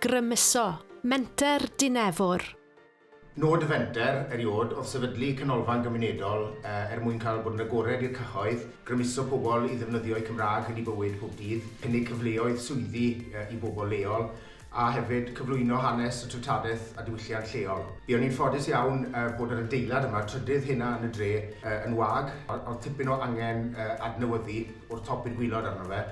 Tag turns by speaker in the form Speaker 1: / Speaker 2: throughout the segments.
Speaker 1: Grymuso, Menter Dinefwr.
Speaker 2: Nod y fenter erioed oedd sefydlu canolfan gymunedol er mwyn cael bod yn agored i'r cyhoedd, grymuso pobl i ddefnyddio'u Cymraeg yn eu bywyd pob dydd, cynnig cyfleoedd swyddi i bobl leol, a hefyd cyflwyno hanes y treftadaeth a diwylliant lleol. Buon ni'n ffodus iawn bod yr adeilad yma, trydydd hynna yn y dre, yn wag, oedd tipyn o angen adnewyddu o'r top i'r gwilod arno fe.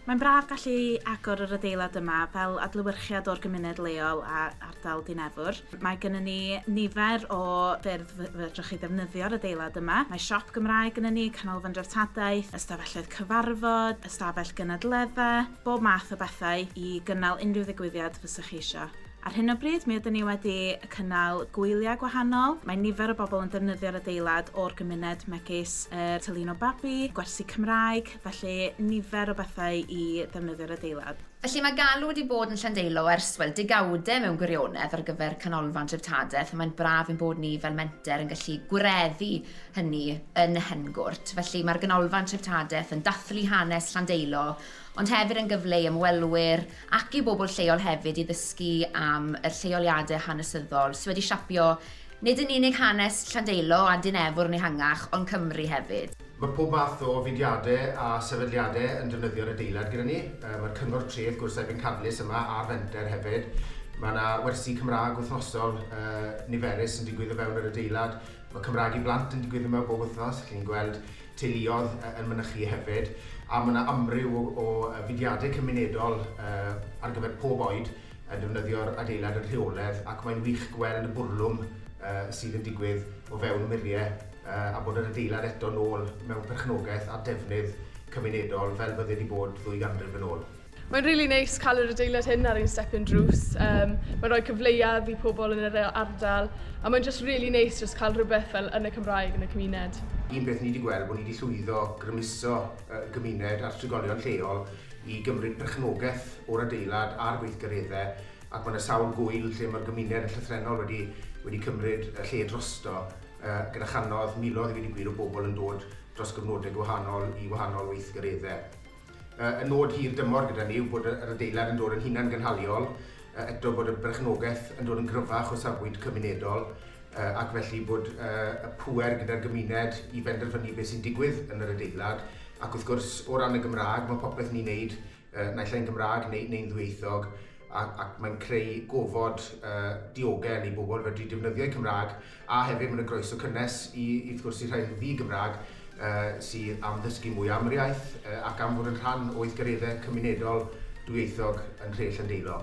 Speaker 2: Mae'n braf
Speaker 3: gallu agor yr adeilad yma fel adlewyrchiad o'r gymuned leol a ardal Dinefwr. Mae gynnon ni nifer o ffyrdd fedrwch chi ddefnyddio'r adeilad yma. Mae siop Gymraeg gynnon ni, canolfan dreftadaeth, ystafelloedd cyfarfod, ystafell gynadledda, bob math o bethau i gynnal unrhyw ddigwyddiad fysech chi isio. Ar hyn o bryd, mi ydyn ni wedi cynnal gwyliau gwahanol, mae nifer o bobl yn defnyddio'r adeilad o'r gymuned megis yr Tylino Babi, gwersi Cymraeg, felly nifer o bethau i ddefnyddio'r adeilad. Felly mae galw wedi
Speaker 4: bod yn Llandeilo ers, wel, degawdau mewn gwirionedd ar gyfer Canolfan Dreftadaeth a mae'n braf ein bod ni fel Menter yn gallu gwireddu hynny yn Nhengwrt. Felly mae'r Ganolfan Treftadaeth yn dathlu hanes Llandeilo ond hefyd yn gyfle i ymwelwyr ac i bobl lleol hefyd i ddysgu am yr lleoliadau hanesyddol sy wedi siapio nid yn unig hanes Llandeilo a Dyn Efwrn ehangach ond Cymru hefyd. Mae pob math o
Speaker 2: fudiadau a sefydliadau yn defnyddio'r adeilad gyda ni. Mae'r Cyngor Tref Gwrthsefyll yn Cadlys yma ar fenter hefyd. Mae 'na wersi Cymraeg wythnosol niferus yn digwydd o fewn yr adeilad. Mae Cymraeg i Blant yn digwydd yma bob wythnos, chi'n gweld teuluoedd yn mynychu hefyd, a mae yna amryw o, o fudiadau cymunedol uh, ar gyfer pob oed yn defnyddio'r adeilad yn rheoledd ac mae'n wych gweld y bwrlwm uh, sydd yn digwydd o fewn muriau uh, a bod yr adeilad eto nôl mewn perchnogaeth a defnydd cymunedol fel bydde wedi bod ddwy ganrif yn ôl. Mae'n rili neis
Speaker 5: cael yr adeilad hyn ar ein stepyn drws. Yym mae'n rhoi cyfleoedd i pobl yn yr ardal a mae'n jyst rili neis jyst cael rhywbeth fel yn y Cymraeg yn y cymuned. Un peth ni 'di gweld
Speaker 2: bod ni 'di llwyddo grymuso y gymuned a'r trigolion lleol i gymryd perchnogaeth o'r adeilad a'r gweithgareddau ac mae 'na sawl gŵyl lle mae'r gymuned yn llythrennol wedi wedi cymryd y lle drosto yy gyda channoedd, miloedd i ddweud y gwir o bobl yn dod dros gyfnodau gwahanol i wahanol weithgareddau. Y nod hir dymor gyda ni yw bod yr adeilad yn dod yn hunangynhaliol, eto bod y berchnogaeth yn dod yn gryfach o safbwynt cymunedol ac felly bod y pŵer gyda'r gymuned i benderfynu beth sy'n digwydd yn yr adeilad ac wrth gwrs o ran y Gymraeg mae popeth ni'n neud naill ai'n Gymraeg neu, neu'n ddwyieithog ac, ac mae'n creu gofod uh, diogel i bobl fedru defnyddio'u Cymraeg A hefyd, mae 'na groeso cynnes i, wrth gwrs, i'r rhai yn ddi-Gymraeg sydd am ddysgu mwy am yr iaith ac am fod yn rhan o weithgareddau cymunedol dwyieithog yn nhre Llandeilo.